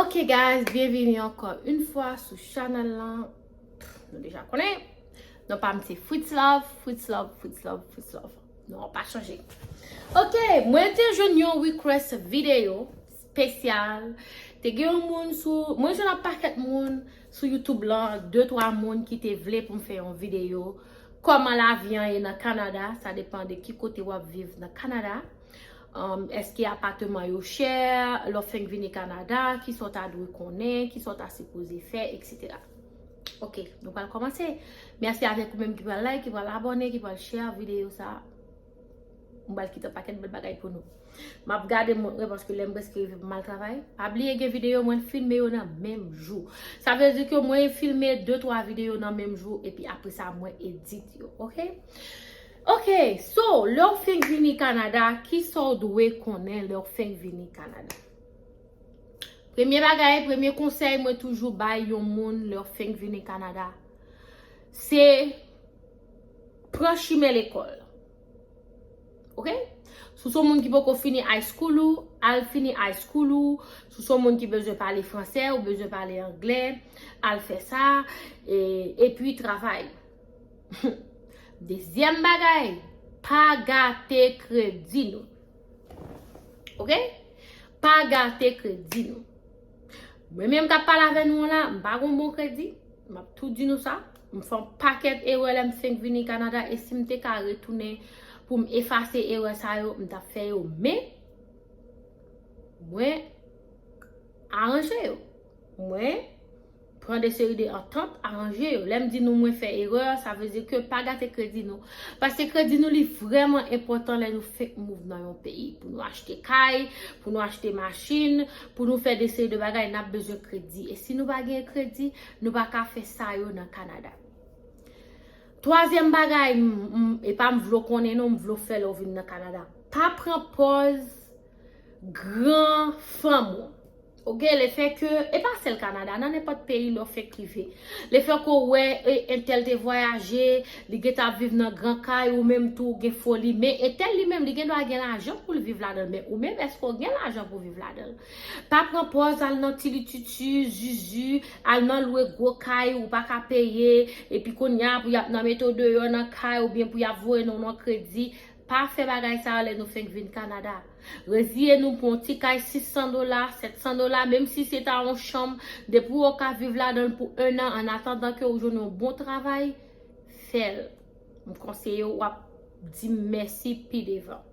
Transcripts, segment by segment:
Ok guys, byenvini ankò yn fwa sou chanèl lan Nou deja konnen Nou pa mte fritz love, fritz love, fritz love, fritz love Nou an pa chanje Ok, mwen te jwenn yon request video spesyal te gen yon moun sou mwen jwenn ak pakèt moun sou youtube lan de twa moun ki te vle pou m fè yon videyo kòman lavi an ye nan kanada sa depan de ki kote wap viv nan kanada èske apateman yo chè lè w fenk vini kanada kisa w ta dwe konnen kisa w ta sipoze fè eksetera ok nou pral kòmanse mèsi avèk ou menm ki pral like ki pral abòne ki pral chè videyo sa. M pral kite yon pakèt bèl bagay pou nou. M ap gade mont mwen paske lè m prèske rive pou m al travay. Pa bliye gen videyo mwen filme yo nan menm jou. Sa vle di ke mwen filme de twa videyo nan menm jou epi apre sa mwen edit yo. Ok? Ok! So, lè ou fenk vini Kanada, ki sa ou dwe konnen lè ou fenk vini Kanada? Premye bagay, premye konsèy mwen toujou bay yon moun lè ou fenk vini Kanada, se Pran chimen lekòl. Ok? Si w se yon moun ki poko fini high school ou, al fini high school ou. Si w se yon moun ki bezwen pale fransè, ou bezwen pale anglè, al fè sa. E pi travay. Dezyèm bagay, pa gate kredi nou. Ok? Pa gate kredi nou. Mwen menm k ap pale avè nou an la, m pa gen yon bon kredi. M ap tou di nou sa. M fè yon pakèt erè lè m fenk vini Kanada e si m te ka retounen pou m efase erè sa yo, m t ap fè yo men mwen aranje yo. Mwen pran de seri de antant, aranje yo. Lè m di nou mwen fè erè, sa vle di ke pa gate kredi nou. Paske kredi nou li vrèman enpòtan lè nou fenk move nan yon peyi. Pou nou achte kay, pou nou achte machin, pou nou fè de seri de bagay, n ap bezwen kredi. E si nou pa gen kredi, Nou pa ka fè sa yo nan Canada. Twazyèm bagay, e pa m vle w konnen non, m vle w fè lè w vin nan Canada. Pa pran pòz gran fanm ou. Ok, le fè ke, e pa sèl Canada, nan nenpòt peyi lè w fèk rive. Le fè ke w wè entèl te vwayaje, li gentan ap viv nan gran kay, ou menm tou ou gen foli. Men entèl li menm, li gendwa gen lajan pou l viv ladan l. Men ou menm, èske w gen lajan pou w viv ladan l? Pa pran pòz al nan tilitutu, zuzu, al nan lwe gwo kay ou pa ka peye, epi kounya pou y ap nan mete w deyò nan kay oubyen pou y ap voye non w nan kredi. Pa fè bagay sa yo lè nou fenk vin Kanada. Reziye nou pou yon ti kay 600 dola, 700 dola, menm si se ta yon chanm, depi w ka viv ladan l pou ennan annatandan ke ou jwenn yon bon travay, fè l. M konseye w, w ap di m mèsi pi devan.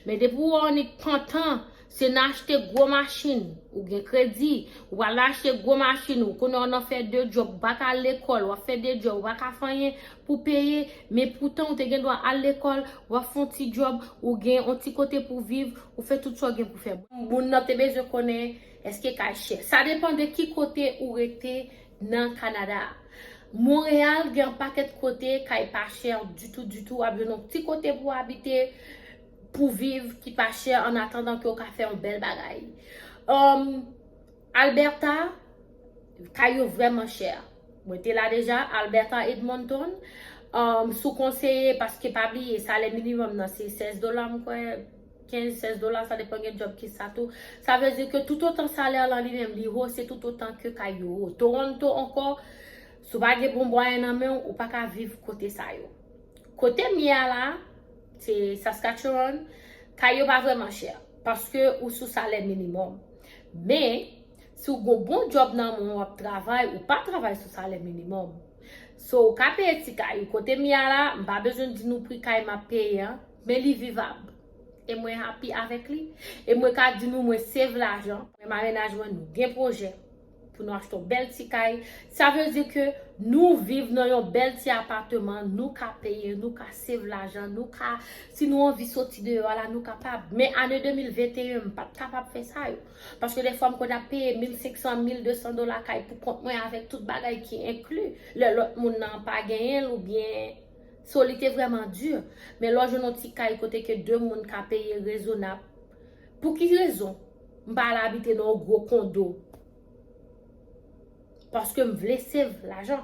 Men depi ou wè yon nèg pantan, se nan achte gwo machin, ou gen kredi, ou pral nan achte gwo machin ou, kounye a ou nan fè 2 djòb, ou pa ka al lekòl, wap fè 2 djòb, ou pa ka fè anyen pou peye, men poutan ou te gen dwa al lekòl, wap fè yon ti djòb, ou gen yon ti kote pou viv, ou fè tout sa ou gen pou fè. Moun nan te bezwen konnen èske kay chè. Sa depan de ki kote ou rete nan Kanada a. Montréal gen yon pakèt kote kay pa chè ditou ditou wap jwenn yon ti kote pou abite pou viv ki pa chè an atandan ke ou ka fè yon bèl bagay humm Alberta kay yo vrèman chè mwen te la deja Alberta Edmonton humm sou konseye paske pa bliye salè minimum nan se 16 dola m kwè 15, 16 dola sa depan gen djòb ki sa tou. Sa vle di ke toutotan salè lan li menm li ho se toutotan ke kay yo ho. Toronto ankò, si w pa gen bon bwayen nan men w, ou pa ka viv kote sa yo. Kote m ye a la, se Saskatchewan, kay yo pa vrèman chè. Paske ou sou salè minimòm. Men, si w gon bon djòb nan men w, w ap travay, ou pa travay sou salè minimòm. So, ou ka peye ti kay ou. Kote m ye a la, m pa bezwen di nou pri kay m ap peye an. Men li vivab. E mwen happy avèk li. E mwen ka di nou mwen save lajan. Mwen marenaj mwen nou gen pwojè pou nou achte yon bèl ti kay. Sa vle di ke nou viv nan yon bèl ti apateman, nou ka peye, nou ka save lajan, nou ka, si nou anvi soti deyò a la, nou kapab. Men ane 2021 m pat kapab fè sa yo. Paske defwa m konn ap peye 1500, 1200 dola kay pou kont mwen avèk tout bagay ki enkli. Lè lòt moun nan pa genyen l oubyen. So li te vrèman di. Men lè w jwenn yon ti kay kote ke 2 moun ka peye rezonab, pou ki rezon m pa al abite nan yon gwo kondo? Paske m vle sev lajan.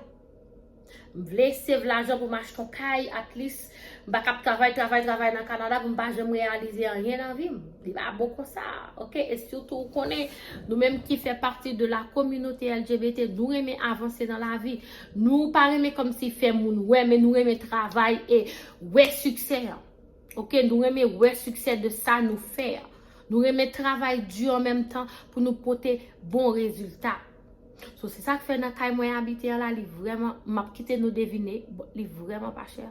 M vle sev lajan pou m achte yon kay at lis. M pa ka ap travay, travay, travay nan Kanada pou m pa janm reyalize anyen nan vi m. Li pa bon konsa. Ok? E sitou ou konnen, nou menm ki fè pati de la kominote LGBT, nou renmen avanse nan lavi. Nou pa renmen komsi fè moun wè men nou renmen travay e wè siksè an. Ok nou renmen wè siksè de sa nou fè an. Nou renmen travay di an menm tan pou nou pote bon rezilta. So se sak fè nan kay mwen abite an la li vreman, map kite nou devine, li vreman pa chè.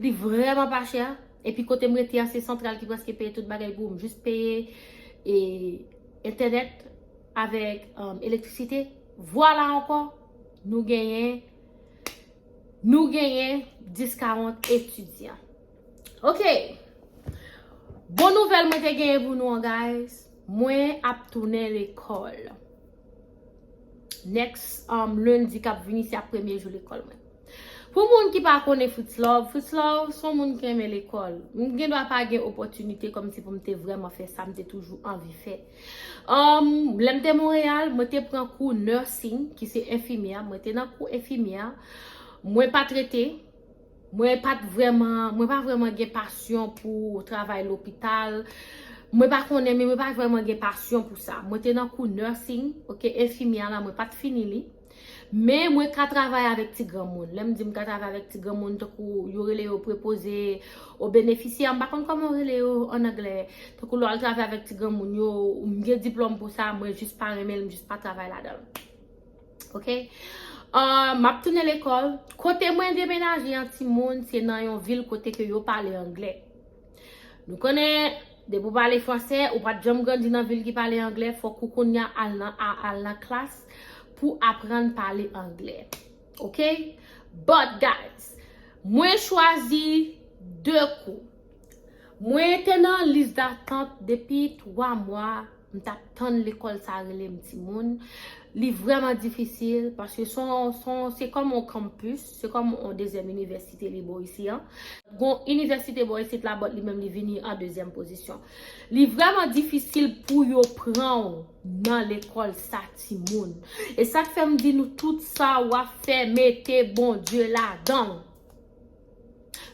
Li vreman pa chè. E pi kote m rete an se santral ki preske peye tout bagay pou m. Jis peye entènèt avèk elektrisite. Vwala ankò, nou genyen, nou genyen 10 ka 11 etidyan. Ok! Bon nouvèl mwen te genyen pou nou an guys, mwen ap tounen lekòl. Next, um, lendi kap vini se ap premye jou lekòl mwen. Pou moun ki pa konnen Fritz Love, Fritz Love son moun ki renmen lekòl. M gen dwa pa gen opòtinite kòm si pou m te vrèman fè sa m te toujou anvi fè. Emm, lè m te Monreyal, mwen te pran kou nursing, ki se enfimyè, mwen te nan kou enfimyè, mwen pa t rete, mwen pa t vrèman, mwen pa vrèman gen pasyon pou travay lopital, mwen pa konnen men mwen pa vrèman gen pasyon pou sa. Mwen te nan kou nursing, ok, enfimyè la mwen pa t fini li. Men mwen ka travay avèk ti granmoun. Lè m di m ka travay avèk ti granmoun, tankou yo rele yo prepoze o benefisyè, m pa konn kòman yo rele yo an anglè. Tankou lè w al travay avèk ti granmoun yo, m gen diplòm pou sa, mwen jis pa renmen l, m jis pa travay ladan l. Ok? M ap tounen lekòl. Kote mwen demenaje an timoun, se nan yon vil kote ke yo pale anglè. Nou konnen depi ou pale fransè ou pat janm grandi nan vil ki pale anglè fòk ou kounya al nan al nan klas pou aprann pale anglè ok but guys mwen chwazi 2 kou mwen te nan lis datant depi 3 mwa m tap tann lekòl sa rele m timoun li vrèman difisil paske son son se kòm yon campus Se kòm yon dezyèm inivèsite li bò isi an. Gon inivèsite bò isit la but li menm li vini an dezyèm pozisyon. Li vrèman difisil pou yo pran w nan lekòl sa timoun. E sa k fè m di nou tout sa w ap fè mete Bondye ladan l.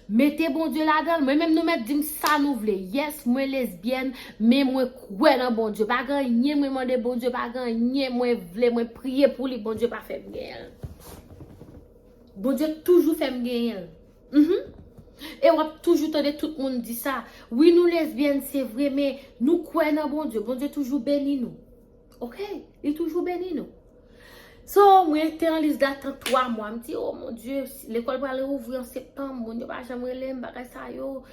Mete Bondye ladanl mwen menm nou mèt dim sa nou vle yes mwen lesbyèn men mwen kwè nan Bondye pa gen anyen mwen mande Bondye pa gen anyen mwen vle mwen priye pou li Bondye pa fèm genyenl Bondye toujou fèm genyenl humm e wap toujou tande tout moun di sa wi nou lesbyèn se vre men nou kwè nan Bondye Bondye toujou beni nou. Ok li toujou beni nou. So mwen te an lis datant 3 mwa m di oh mon Dieu lekòl pral reouvri an septanm moun yo pa janm rele m bagay sa yo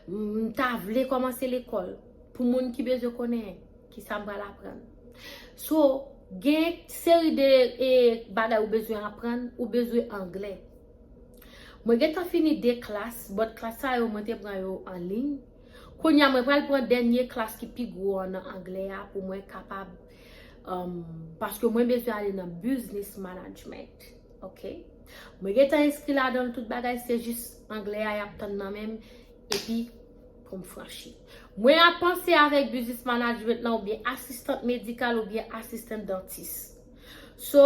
m ta vle kòmanse lekòl pou moun ki bezwen konnen kisa m pral aprann so gen yon seri de bagay ou bezwen aprann ou bezwen anglè mwen gentan fini 2 klas but klas sa yo mwen te pran yo anliy. Kounye a mwen pral pran dènye klas ki pi gwo an nan anglè a pou mwen kapab paske mwen bezwen ale nan business management ok mwen gentan enskri ladanl tout bagay se jis anglè a yap tann nan menm epi poum franchi mwen ap panse avèk business management nan oubyen asistant medikal oubyen asistant dantis so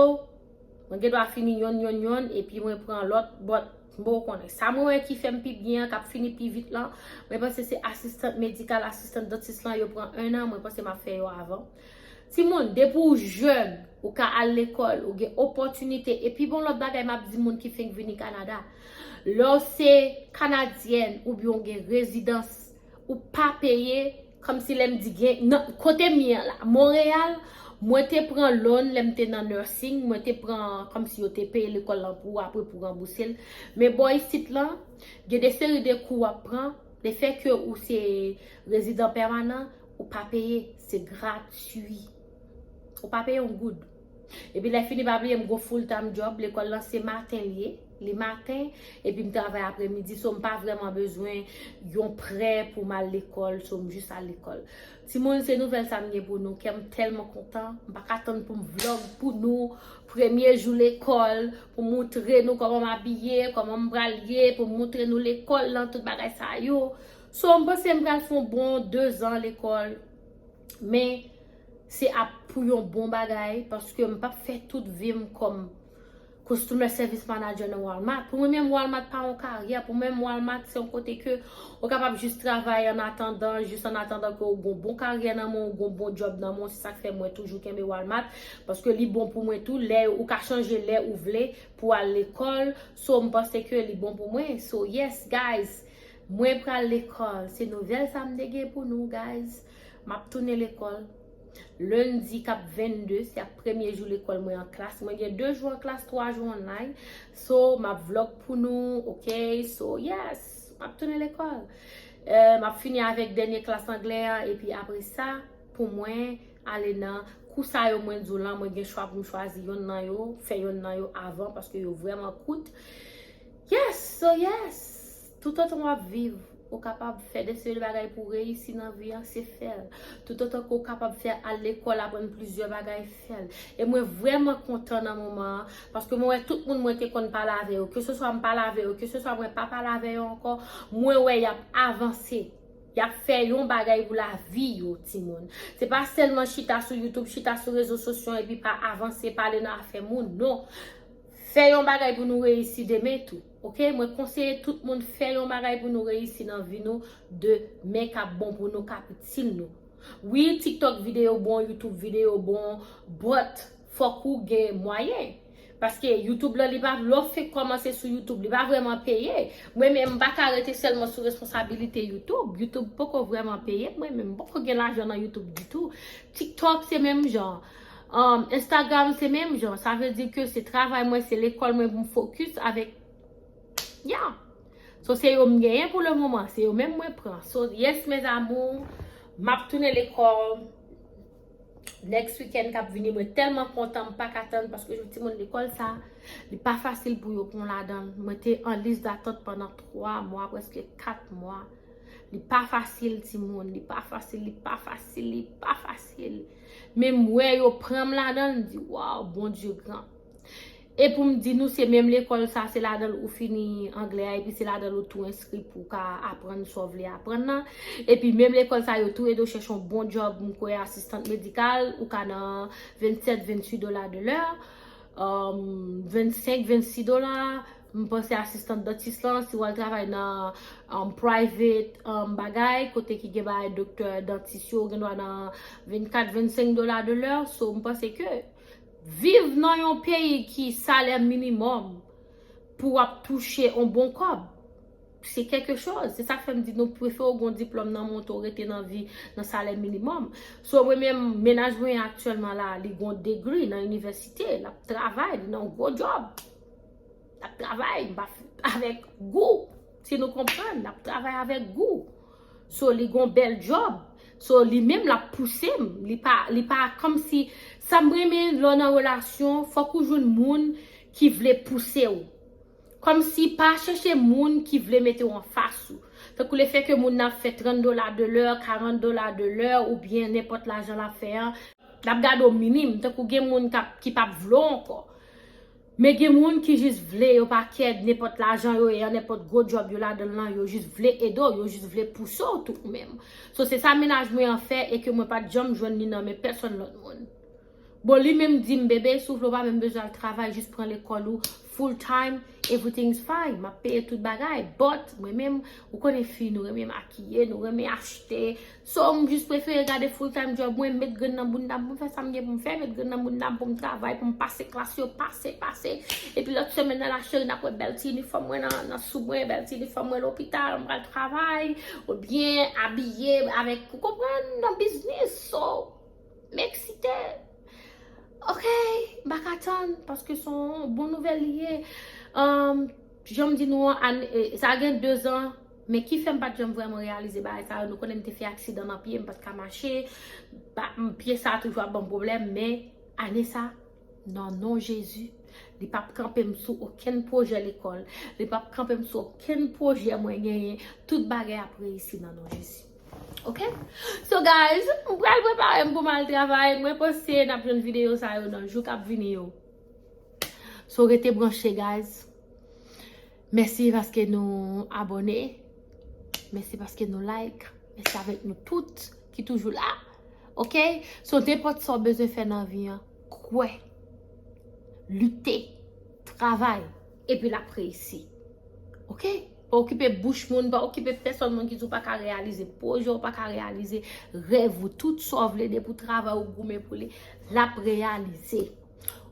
mwen gen dwa fini yonn yonn yonn epi mwen pran lòt bòt Bon ou konnen. Sa mwen wè ki fèm pi byen an kap fini pi vit lan, mwen panse se asistant medikal, asistant dentist lan yo pran 1 an, mwen panse map fè yo avan. Timoun depi ou jèn ou ka al lekòl, ou gen opòtinite epi bon lòt bagay map di moun ki fenk vini Kanada, lèw se kanadyèn oubyen ou gen rezidans ou pa peye Kòmsi lè m di gen, nan, kote m ye an la, Monreyal, mwen te pran loan lè m te nan nursing, mwen te pran kòmsi yo te peye lekòl lan pou ou apre pou ranbouse l. Men bò isit lan, gen de seri de kou w ap pran, lefè ke ou se rezidan pèmanan, ou pa peye, se gratui. Ou pa peye yon goud. Epi lè fini pa bliye m gon full time job lekòl lan se maten li ye li maten epi m travay apremidi so m pa vrèman bezwen yon prè pou m al lekòl so m jis al lekòl timoun se nouvèl sa m gen pou nou kè m tèlman kontan m pa ka tann pou m vlog pou nou premye jou lekòl pou m moutre nou kòman m abiye kòman m pral ye pou m moutre nou lekòl lan tout bagay sa yo so m panse m pral fon bon dezan lekòl men Se ap pou yon bon bagay paske m pap fè tout vi m kòm Customer Service Manager nan Walmart. Pou mwen menm Walmart pa yon karyè, pou mwen menm Walmart se yon kote ke ou kapab jis travay an atandan, jis an atandan ke ou gen yon bon karyè nan men w, ou gen yon bon job nan men w. Se sa k fè mwen toujou kenbe Walmart paske li bon pou mwen tou lè ou ka chanje lè ou vle pou al lekòl. So m panse ke li bon pou mwen. So yes guys, mwen pral lekòl. Se nouvèl sa m te gen pou nou guys. Map tounen lekòl Lundi kap 22 se ap premye jou lekòl mwen an klas mwen gen 2 jou an klas 3 jou online so map vlog pou nou ok so yes map tounen lekòl map fini avèk dènye klas anglè an epi apre sa pou mwen ale nan kou sa yo mwen di w lan mwen gen chwa pou m chwazi yonn nan yo fè yonn nan yo avan paske yo vrèman kout yes so yes Toutotan wap viv, ou kapab fè de seri de bagay pou reyisi nan vi an, se fèl. Toutotan ke ou kapab fè al lekòl aprann plizyè bagay, fèl. E mwen vrèman kontan nan moman an, paske mwen wè tout moun mwen te konn pale avè yo, ke se swa m pale avè yo, ke se swa mwen pa pale avè yo ankò, mwen wè yap avanse, yap fè yon bagay pou lavi yo timoun. Se pa sèlman chita sou YouTube, chita sou rezo sosyon epi pa avanse, pa ale nan afè moun, non! Fè yon bagay pou nou reyisi demen tou. Ok mwen konseye tout moun fè yon bagay pou nou reyisi nan vi nou de men kap bon pou nou kap itil nou wi tiktok video bon youtube video bon but fòk ou gen mwayen paske youtube lan li pa lò fenk kòmanse sou youtube li pa vrèman peye mwen menm m paka rete sèlman sou responsabilite youtube youtube poko vrèman peye mwen menm m poko gen lajan nan youtube ditou tiktok se menm jan Instagram se menm jan, sa vle di ke se travay mwen, se lekòl mwen pou m fokis avèk, ya! So se yo m genyen pou le moman, se yo menm mwen pran. So yes mes amours, m ap tounen lekòl next weekend k ap vini, mwen tèlman kontan m pa ka tann paske jou timoun lekòl sa, li pa fasil pou yo pran ladan l. Mwen te an lis datant pandan 3 mwa, prèske 4 mwa. Li pa fasil timoun, li pa fasil, li pa fasil, li pa fasil. Men m wè yo pranm ladanl m di waw Bondye gran. E poum di nou se menm lekòl sa se ladanl ou fini anglè a epi se ladanl ou tou enskri pou ka aprann sa w vle aprann nan. Epi menm lekòl sa yo tou ede w chèche yon bon djòb m kwè asistant medikal ou ka nan 27, 28 dola de lè, 25, 26 dola. M panse asistant dentist lan si wal travay nan private bagay kote ki gen bagay doktè dentist yo ou gen dwa nan 24 25 dola de lè so m panse ke viv nan yon peyi ki salè minimum pou wap touche yon bon kob se kèlke choz se sak fèm di nou prefe ou gon diplom nan men w tou rete nan vi nan salè minimum so mwen menm mennaj mwen aktyèlman la li gon degree nan inivèsite lap travay li nan yon gwo job. Nap travay, m pa fout avèk gou. Si nou konprann, nap travay avèk gou. So li gon bèl djòb. So li menm lap pouse m. Li pa, li pa kòm si, sa m renmen lè w nan relasyon, fòk ou jwenn moun ki vle pouse w. Kòm si pa chèche moun ki vle mete w anfas ou. Tankou le fè ke moun nan ap fè 30 dola de lè, 40 dola de lè, ou byen nenpòt lajan lap fè an, lap gade w minim, tankou gen moun kap, ki pap vle w ankò. Men gen moun ki jis vle yo pa kè nenpòt lajan yo ye an nenpòt gwo djòb yo ladanl lan yo jis vle ede w yo jis vle pouse w tou ou menm so se sa mennaj mwen an fè e ke mwen pat janm jwenn li nan men pèsòn lòt moun bon li menm di m bebe si w vle w pa menm bezwen al travay jis pran lekòl ou full time everything is fine map peye tout bagay but mwen menm ou konnen fi nou renmen makiye nou renmen achte So m jis prefere gade full time job mwen, met grenn nan bounda m pou m fè sa m gen pou m fè, met grenn nan bounda m pou m travay, pou m pase klas yo, pase, pase. Epi lòt semèn nan la cheri n ap wè bèl ti inifòm mwen nan sou mwen, bèl ti inifòm mwen lopital, m pral travay, ou byen abiye avèk, ou konprann, nan biznis. So, m eksite. Ok, m pa ka tann, paske s on bon nouvèl li ye. Jan m di nou an, sa gen dezan. Men ki fè m pa t janm vrèman reyalize bagay sa yo, nou konnen m te fè aksidan nan pye, m pa t ka mache, pye sa toujou ap ban m pwoblèm, men ane sa, nan non Jezi, li pa p kanpe m sou okenn pwojè lekòl, li pa p kanpe m sou okenn pwojè mwen genyen, tout bagay ap reyisi nan non Jezi. Ok? So guys, m pral prepare m pou m al travay, mwen panse n ap jwenn videyo sa yo nan jou k ap vini yo. So rete branche guys. Mèsi paske nou abone, mèsi paske nou like, mèsi avèk nou tout ki toujou la. Ok, so nenpòt sa w bezwen fè nan vi an, kwè, lite, travay, epi l ap reyisi. Ok, pa okipe bouch moun, pa okipe pèsòn moun ki di w pa ka reyalize pwojè w, pa ka reyalize rèv ou, tout sa w vle depi w travay ou goumen pou li, l ap reyalize.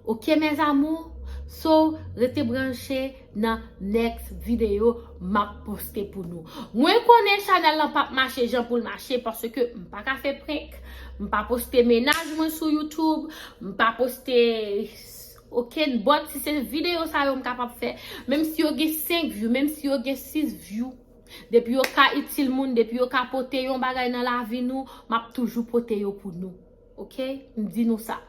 Ok mes amours so rete branche nan next video map poste pou nou mwen konnen chanel lan pap mache jan poul mache paske m paka fè prank m pa poste mennaj mwen sou YouTube m pa poste okenn bòt si se video sa yo m kapab fè menm si yo gen 5 view menm si yo gen 6 view depi yo ka itil moun depi yo ka pote yon bagay nan lavi nou map toujou pote yo pou nou. Ok m di nou sa.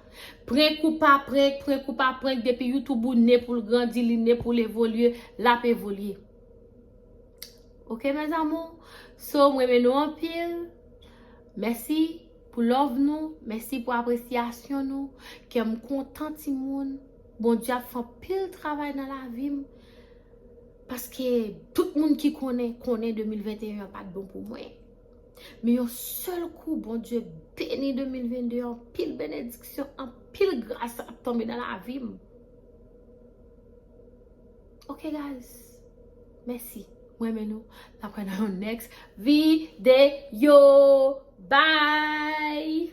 Prenk ou pa prenk, prenk ou pa prenk depi youtube ou ne pou l grandi, li ne pou l evolye, l ap evolye. Ok mes amour. So m renmen nou anpil. Mèsi pou love nou, mèsi pou apresyasyon nou. Kè m kontan ti moun. Bondye ap fè anpil travay nan lavi m. Paske tout moun ki konnen, konnen 2021 an pa t bon pou mwen. Men yon sèl kou Bondye beni 2022 an pil benediksyon an pil gras ap tonbe nan la vim ok guys mèsi mwen men nou nan pwen nan yon next video bye.